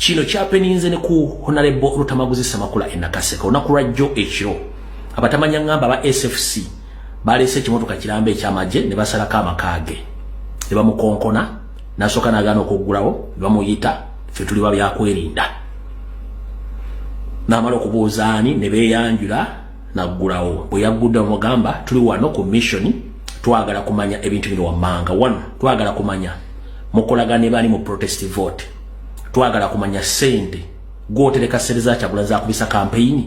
kino kyapeninze ne ku honalebo lutamaguzi semakula enakaseka olunaku lwa jjo ekiro abatamanya ngamba aba sfc baleese ekimotoka kiramba ekyamagye ne basalako amakaage ne bamukonkona nasooka nagaana okuggulawo ne bamuyita fe tuli ba byakwerinda namala okubuuza ani ne beeyanjula naggulawo bwe yaggudde omugamba tuli wano ku missioni twagala kumanya ebintu bino wammanga wano twagala kumanya mukolaga ne bali mu protest vote twagala kumanya sente gwotereka sente za kyagula za kubisa campaign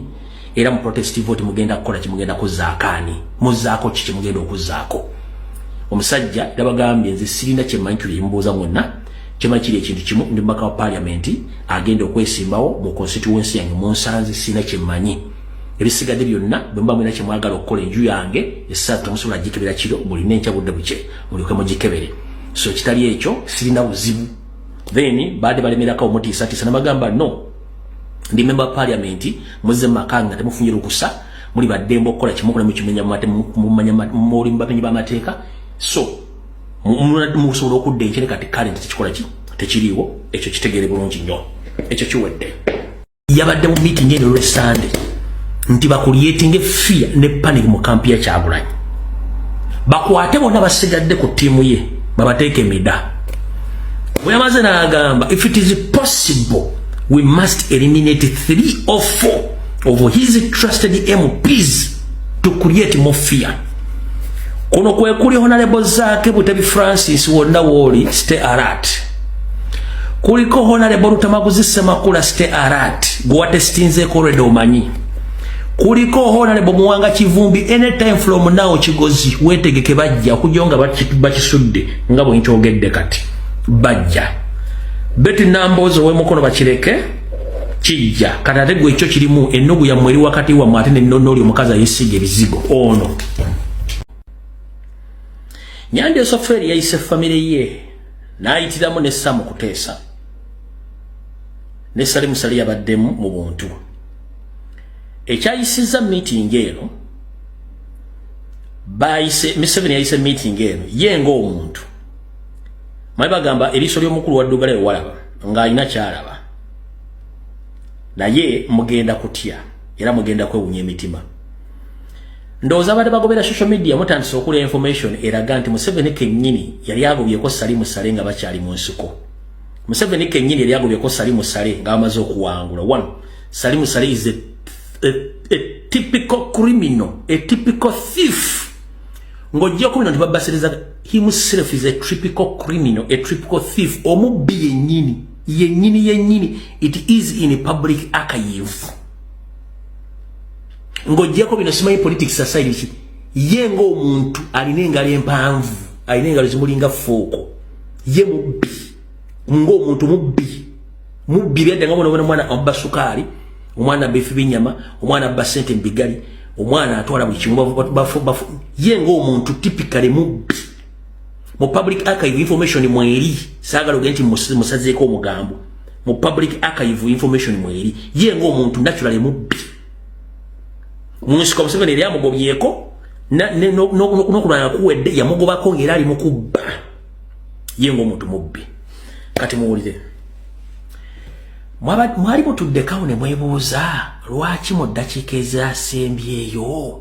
era mu protest vote mugenda kukola kimugenda kuzaakaani muzaako kiki mugenda okuzaako omusajja yabagambye nze sirina kyemanyi kyo yemubuuza mwonna kyemanyi kiri ekintu kimu ndi mubaka wa parliament agenda okwesimbawo mu constituency yange munsanze sirina kyemanyi ebisigadde byonna bwemuba mwina kyemwagala okukola enju yange esatu musobola gikebera kiro mulina enkya budde bukye mulyoke mugikebere so ekitali ekyo sirina buzibu then baade balemerako omutiisatiisa nabagamba no ndi memba wa parliament muze mu maka nga temufunye lukusa muli baddembe okukola kimu kule mukimenya mumate mumanya muli mubamenyi b'amateeka so musobola okudda enkere kati kale nti tekikola ki tekiriiwo ekyo kitegeere bulungi nnyo ekyo kiwedde yabadde mu meeting eno lwe Sunday nti bakulyetinge fear ne panic mu kampi ya Kyagulanyi bakwate bona basigadde ku tiimu ye babateeke mida bwe yamaze n'agamba if it is possible we must eliminate three or four of his trusted MPs to create more fear kuno kwekuli honalebo zaake butebi francis wonna wooli stay alert kuliko honalebo lutamaguzi semakula ste arat gwewatesitinzeeko olwede omanyi kuliko honalebo muwanga kivumbi anytime from now kigozi wetegeke bajja okujo nga bakisudde nga bwenkyogedde kati bajja beti namboozi owemukono bakireke kijja kati ate gwe ekyo kirimu ennugu yammwe eri wakati wammwe ate nennono oli omukazi ayesiga ebizigo ono nyanja esoferi yayise famire ye n'ayitiramu ne Sam Kuteesa ne Salim Sali yabaddemu mu buntu ekyayisizza miitingi eno bayise Museveni yayise miitingi eno ye ng'omuntu mwe bagamba eriiso ly'omukulu wa Ddugala ewalaba ng'alina kyalaba naye mugenda kutya era mugenda kwewunya emitima ndowooza abadde bagobera social media mutandise okula information eraga nti museveni kenyini yali agobyeko sali musale nga bakyali mu nsiko museveni kenyini yali agobyeko sali musale nga bamaze okuwangula one sali musale is a, a, a typical criminal a typical thief ng'ojja okubino nti babasiriza himself is a typical criminal a typical thief omubbi yenyini yenyini yenyini it is in a public archive ng'ogyeko bino simanyi politics aside ki ye ng'omuntu alina engalo empanvu alina engalo zimulinga fooko ye mubbi ng'omuntu mubbi mubbi byadda nga bona bona omwana abba sukaali omwana abba efi binyama omwana abba sente mu bigali omwana atwala buli kimu ye ng'omuntu tipikale mubbi mu public archive information mweri saagala oge nti musazeeko omugambo mu public archive information mweri ye ng'omuntu naturale mubbi munsiko museveni yali amugobyeko nokulwala kuwedde yamugobako ngaera ali mukubba ye ngaomuntu mubbi kati muwulire mwali mutuddekawo ne mwebuuza lwaki mu ddakiika ezasembyeyo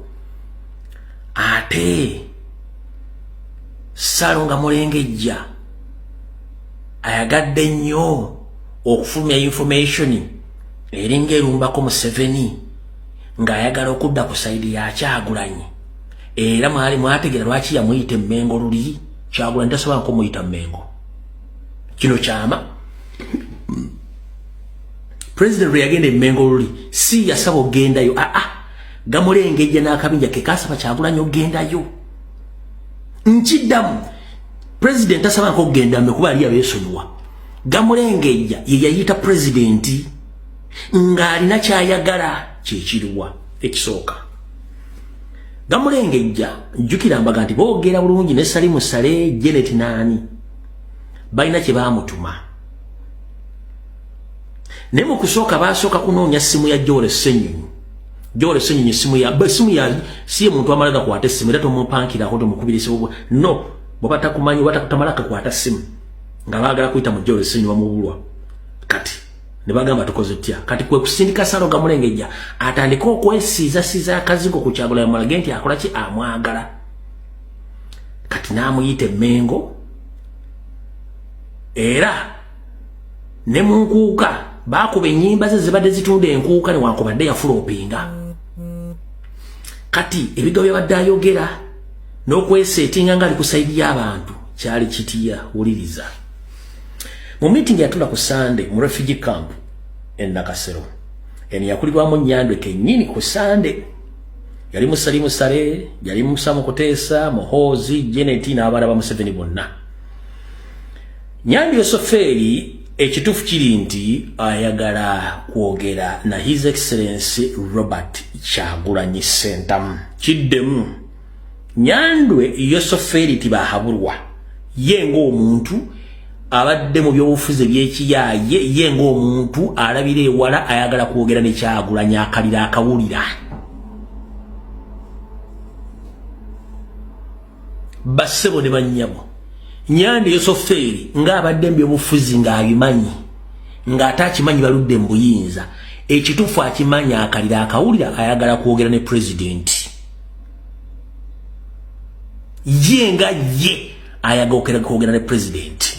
ate salo nga mulengejja ayagadde nnyo okufulumya informationi eringa erumbako museveni ng'ayagala okudda ku saidi yakyagulanyi era mwali mwategera lwaki yamuyita emmengo luli kyagulanyi tasobola nkumuyita mmengo kino kyama president lweyagenda emmengo luli si yasaba ogendayo aa ah, ah, gamulengejja n'akabinja kekasaba kyagulanyi ogendayo nkiddamu president tasabanko okugenda mbe kuba ali abesonyiwa gamulengejja ye yayita pulezidenti ng'alina kyayagala kyekiriwa ekisooka gamulengejja jjukira mbaga nti boogera bulungi ne salimu sale jenet naani balina kye baamutuma naye mu kusooka baasooka kunoonya ssimu ya joole senyonyi joole senyonyi essimu ya essimu ya siye muntu amala gakwata essimu era tomupankirako tomukubirisibwa no bwaba takumanyi oba tamala kakwata ssimu nga baagala kuyita mu jolo esinyi bamubulwa kati ne bagamba tukoze tutya kati kwe kusindika salo gamulengejja atandike okwesiizasiiza akazigo ku kyagula yamulage nti akola ki amwagala kati n'amuyita emmengo era ne mu nkuuka baakuba ennyimba ze zibadde zitunda enkuuka newankubadde yafula opinga kati ebigo byabadde ayogera n'okweseetinga ngaali ku saidi y'abantu kyali kitiya wuliriza mu meeting yatula ku sande mu refugee camp e nakasero eno yakulirwamu nyandwe kenyini ku sande yali musali musale yali musa mu kuteesa muhoozi jeneti n'abaana ba museveni bonna nyandwe sofeeri ekitufu kiri nti ayagala kwogera na his excellency robert kyagulanyi sentamu kiddemu Nyandwe Yosoferiti Bahaburwa ye ng'omuntu abadde mu byobufuzi eby'ekiyaaye ye ng'omuntu alabira ewala ayagala kwogera ne Kyagulanyi akalira akawulira. Bassebo ne bannyabo Nyandwe Yosoferi ng'abadde mu byobufuzi ng'abimanyi ng'ate akimanyi baludde mu buyinza ekituufu akimanyi akalira akawulira ayagala kwogera ne pulezidenti. ye nga ye ayagokera kwogera ne president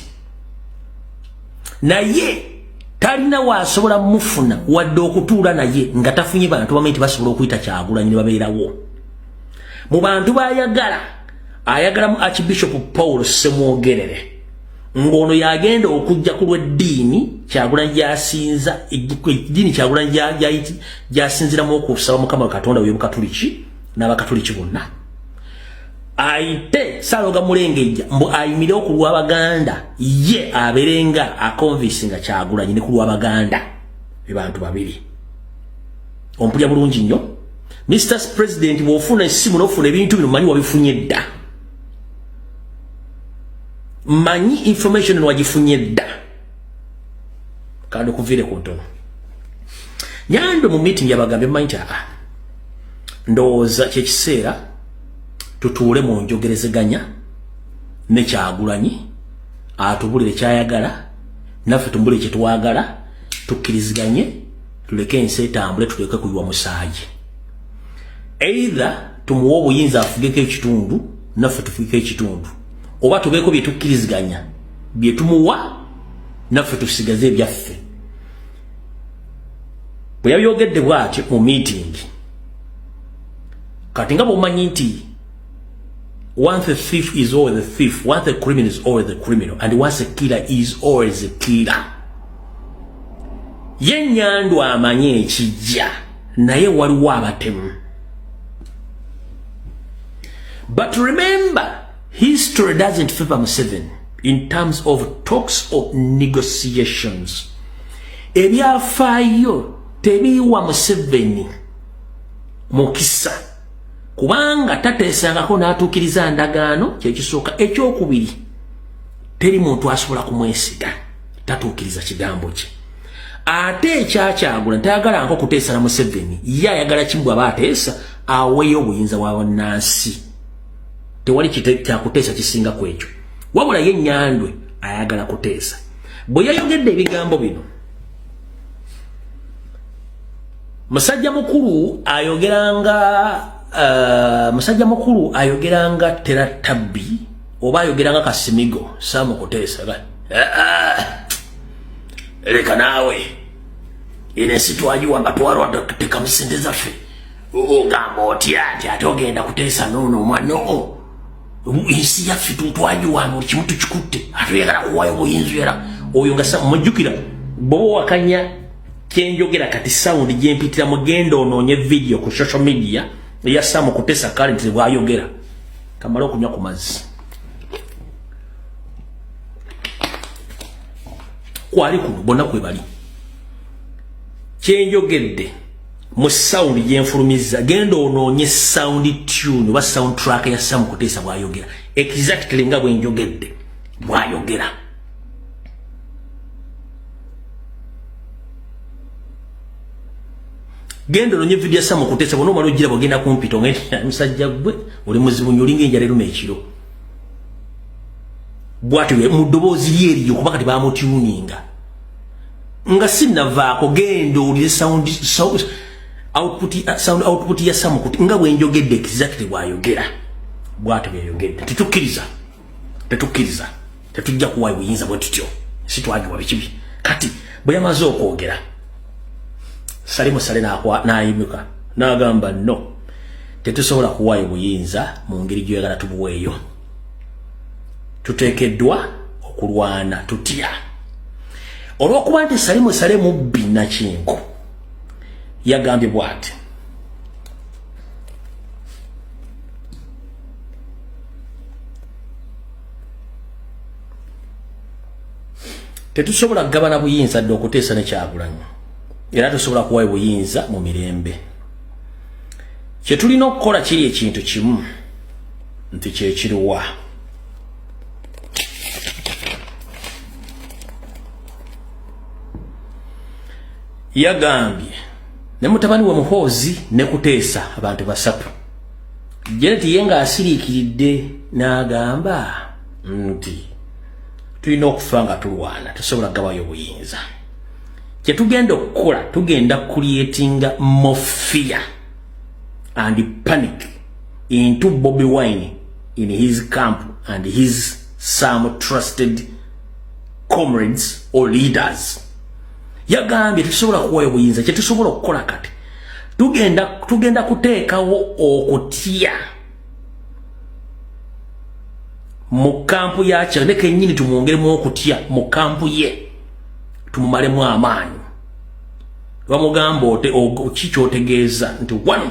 naye talina wasobola mufuna wadde okutuula naye nga tafunye bantu bamanyi nti basobola okuyita kyagulanyi ne babeerawo mu bantu bayagala ayagalamu archbishop paul semwogerere ng'ono yagenda okujja ku lw'eddiini kyagula gyasinza eddiini kyagula gyasinziramu okusaba mukama katonda we bukatuliki n'abakatuliki bonna ayite saloga mulengejja mbu ayimire oku lw'abaganda ye aberenga akonvisi nga kyagulanyi ne ku lw'abaganda be bantu babiri ompulya bulungi nnyo mr president bw'ofuna essimu n'ofuna ebintu bino manyi wabifunye dda manyi information eno wagifunye dda kandi kuviire ku ntono nyandwe mu meeting yabagambye manyi nti aa ndowooza kyekiseera tutuule mu njogerezeganya nekyagulanyi atubulire kyayagala naffe tumubulire kyetwagala tukkiriziganye tuleke ensi etambule tuleke kuyiwa musaayi either tumuwa obuyinza afugeko ekitundu naffe tufugeko ekitundu oba tubeeko bye tukkiriziganya bye tumuwa naffe tusigaze ebyaffe bwe yabyogedde bw'atyo mu miitingi kati nga bwomanyi nti once a thief is always a thief once a criminal is always a criminal and once a killer is always a killer ye nyandu amanyi ekijja naye waliwo abatemu but remember history doesn't favor museven in terms of talks or negotiations ebyafaayo tebiiwa museveni mukisa kubanga tateesangako n'atuukiriza ndagaano kyekisooka ekyokubiri teri muntu asobola kumwesiga tatuukiriza kigambo kye ate ekyakyagula ntayagala nko kuteesala museveni ye ayagala kimu bwaba ateesa aweeyo obuyinza bwa bannansi tewali kyakuteesa kisinga ku ekyo wabula ye nyandwe ayagala kuteesa bwe yayogedde ebigambo bino musajja mukulu ayogeranga uh, musajja mukulu ayogeranga tera tabbi oba ayogeranga kasimigo samukuteesa uh, uh. leka naawe eno ensi twagiwa nga twalwadde tuteekamu sente zaffe ogamba otya nti ate ogenda kuteesa noono omwana oo ensi yaffe twagiwa buli kimu tukikutte ate oyagala kuwayo buyinza era oyo nga mujjukira bwoba owakanya kyenjogera kati sawundi gyempitira mugenda onoonye vidiyo ku social media eya samu kutesa kale nti bwayogera kamala okunywa ku mazzi kwali kuno bonna kwe bali kyenjogedde mu sawundi gyenfulumizza genda onoonye sawundi tune oba sawundi track ya samu kuteesa bwayogera exactly nga bwenjogedde bwayogera genda ononye vidiyo samu kutesa bona omala ojira bwagenda kumpita nga musajja gwe oli muzibu nyo olinga enjala eruma ekiro bwati mu ddoboozi lye eriyo kuba kati bamutyuninga nga sinavaako genda owulire sound output uh, sound output ya samu kuti nga bwenjogedde exactly bwayogera bwati bweyogedde tetukkiriza tetukkiriza tetujja kuwayo buyinza bwe tutyo sitwagiwa bikibi kati bwe yamaze okwogera sale musale nayimuka nagamba no tetusobola kuwayo buyinza mu ngeri gyoyagala tubuweeyo tuteekeddwa okulwana tutya olw'okuba nti sali musale mubbi nakinku yagambye bwati tetusobola kugabana buyinza dde okuteesa ne kyagulanyo era tusobola kuwayo buyinza mu mirembe kyetulina okukola kiri ekintu kimu nti kyekiriwa yagambye ne mutabani wa muhoozi ne kuteesa abantu basatu janet ye nga asiriikiridde n'agamba nti tulina okufa nga tulwana tusobola gabayo obuyinza kyetugenda okukola tugenda kulietinga mofia and panic into Bobby Wine in his camp and his some trusted comrades or leaders yagambye tetusobola kuwayo buyinza kyetusobola okukola kati tugenda tugenda kuteekawo okutya mu kampu yakyo ne kenyini tumwongeremu okutya mu kampu ye tumumalemu amaanyi bamugamba ote kikyotegeeza nti wano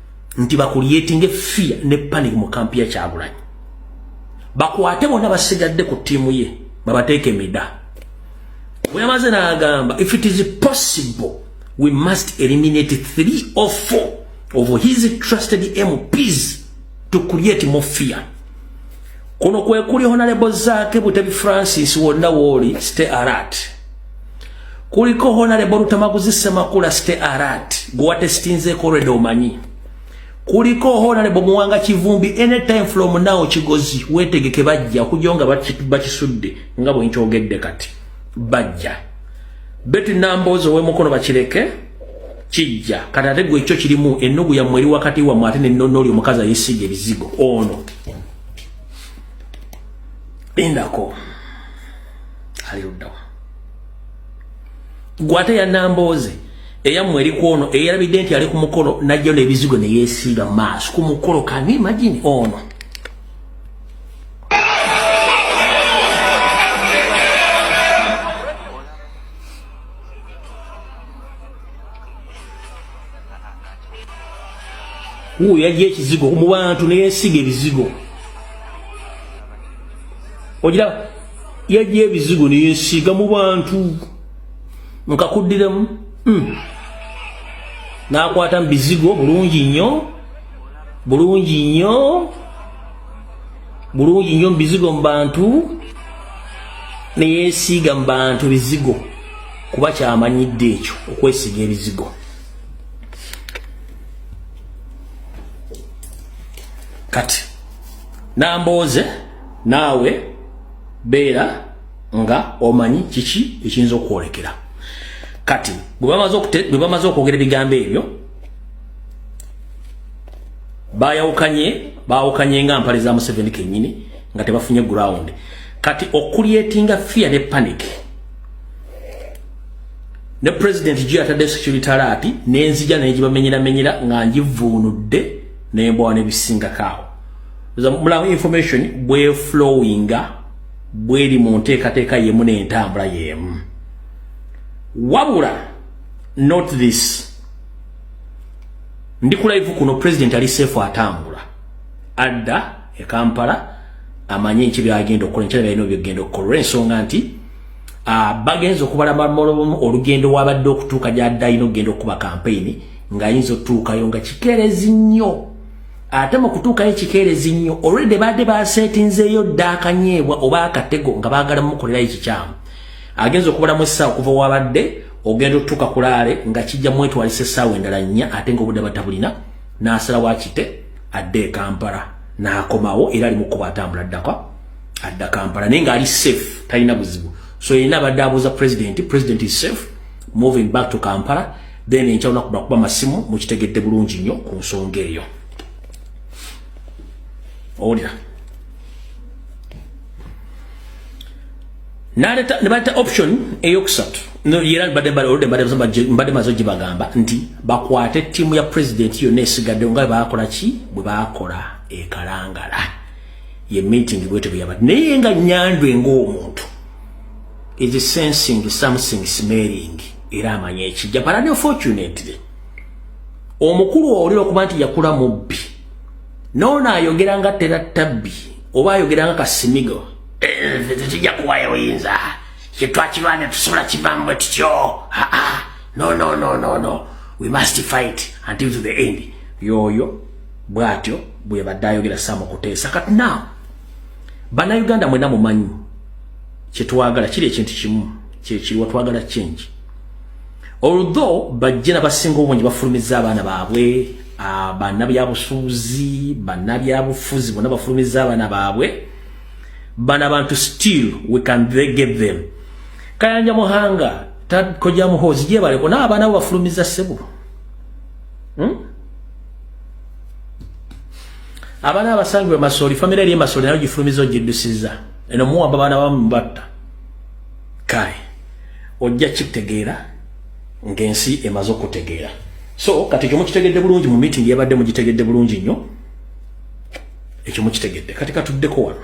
nti bakuliyetinge fear ne panic mu kampi ya kyagulanyi bakwate bona basigadde ku tiimu ye babateeka emida weyamaze nagamba if it is possible we must eliminate three or four of his trusted mps to create more fear kuno kwekuli honalebo zake butebi francis wonna wooli stay alert kuliko honalebo lutamaguzi semakula ste arat gwewatesitinzeeko reda omanyi kuliko honalebo muwanga kivumbi anytime from now kigozi wetegeke bajja okujo nga bakisudde nga bwenkyogedde kati bajja beti namboozi owemukono bakireke kijja kati ate gwe ekyo kirimu ennugu yammwe eri wakati wammwe ate nennono oli omukazi ayesiga ebizigo ono lindako ali luddawa gwate ya nambooze eyammwe eri kwono eyalabidde nti ali ku mukolo najjo n'ebizigo ne yeesiiba mu maaso ku mukolo kani imagine ono oh wuuyo yajja ekizigo mu bantu neyesiga ebizigo ogira yajja ebizigo neyesiiga mu bantu nkakuddiramu hmm. nakwata mu bizigo bulungi nnyo bulungi nnyo bulungi nnyo mu bizigo mu bantu neyesiiga mu bantu bizigo kuba kyamanyidde ekyo okwesiga ebizigo kati Nambooze naawe beera nga omanyi kiki ekiyinza okwolekera kati bwe bamaze okwogera ebigambo ebyo bayawukanye bawukanye nga mpale za museveni kenyini nga tebafunye ground kati okulietinga fear ne panic ne president juu atadde security alert nenzija nengibamenyera menyera nga njivuunudde nembwa nebisingako awo mulamu information bweflowinga bweri mu nteekateeka yemu nentambula yemu wabula not this ndi kulaivu kuno president ali sefu atambula adda e kampala amanye nki byagenda okukola nkyala byalina byogenda okukola olwensonga nti bagenza okubala olugendo wabadde okutuuka gyadde alina okugenda okukuba kampeyini ng'ayinza otutuukayo nga kikeerezi nnyo ate mu kutuukayo kikeerezi nnyo olwedde baadde baseetinzeeyo dda akanyeebwa oba akatego nga baagala mukolerayo ekikyamu agenza okubulamu essaawa okuva wabadde ogenda otutuuka kulaale nga kijja mwetwalisa essaawa endala nnya ate ngaobudde batabulina n'asala wakite adde e kampala n'akomawo era ali mukuba atambula addaka adda kampala naye ng'ali safe talina buzibu so yena abadde abuuza president president is safe moving back to kampala then enkya lunaku nakuba masimu mukitegedde bulungi nnyo ku nsonga eyo owulira naleta nebaleta option eyokusatu era mbadde maze ogibagamba nti bakwate ttiimu ya pulezidenti yonna esigadde nga bakola ki bwe bakola ekalangala ye meeting bwete bweyabadde naye nga nyandwe ngaomuntu is sensing something smelling era amanya ekijja but unfortunately omukulu owulira okuba nti yakula mubbi noono ayogera nga tera tabbi oba ayogera nga kasimigo eh, tekijja kuwayo oyinza kyetwakirwane tusobola kivamu bwe tutyo no no no no no we must fight until to the end yoyo bwatyo bwebadde ayogera samukuteesa kati now banauganda mwena mumanyi kyetwagala kiri ekintu kimu kyekiriwa twagala change although bajje nabasinga obungi bafulumiza abaana baabwe ah, banabyabusuuzi banabyabufuzi bona bafulumiza abaana baabwe bana bantu still we can get them kayanja muhanga takoja muhozi jebaleko naabaana bo bafulumiza sebo hmm? abaana abasangibwe masoli famire eri emasoli nayo gifulumiza ogiddusiza eno muwamba baana bamubatta kale ojja kitegeera ng'ensi emaze okutegeera so kati ekyo mukitegedde bulungi mu meeting yabadde mugitegedde bulungi nnyo ekyo mukitegedde kati katuddeko wano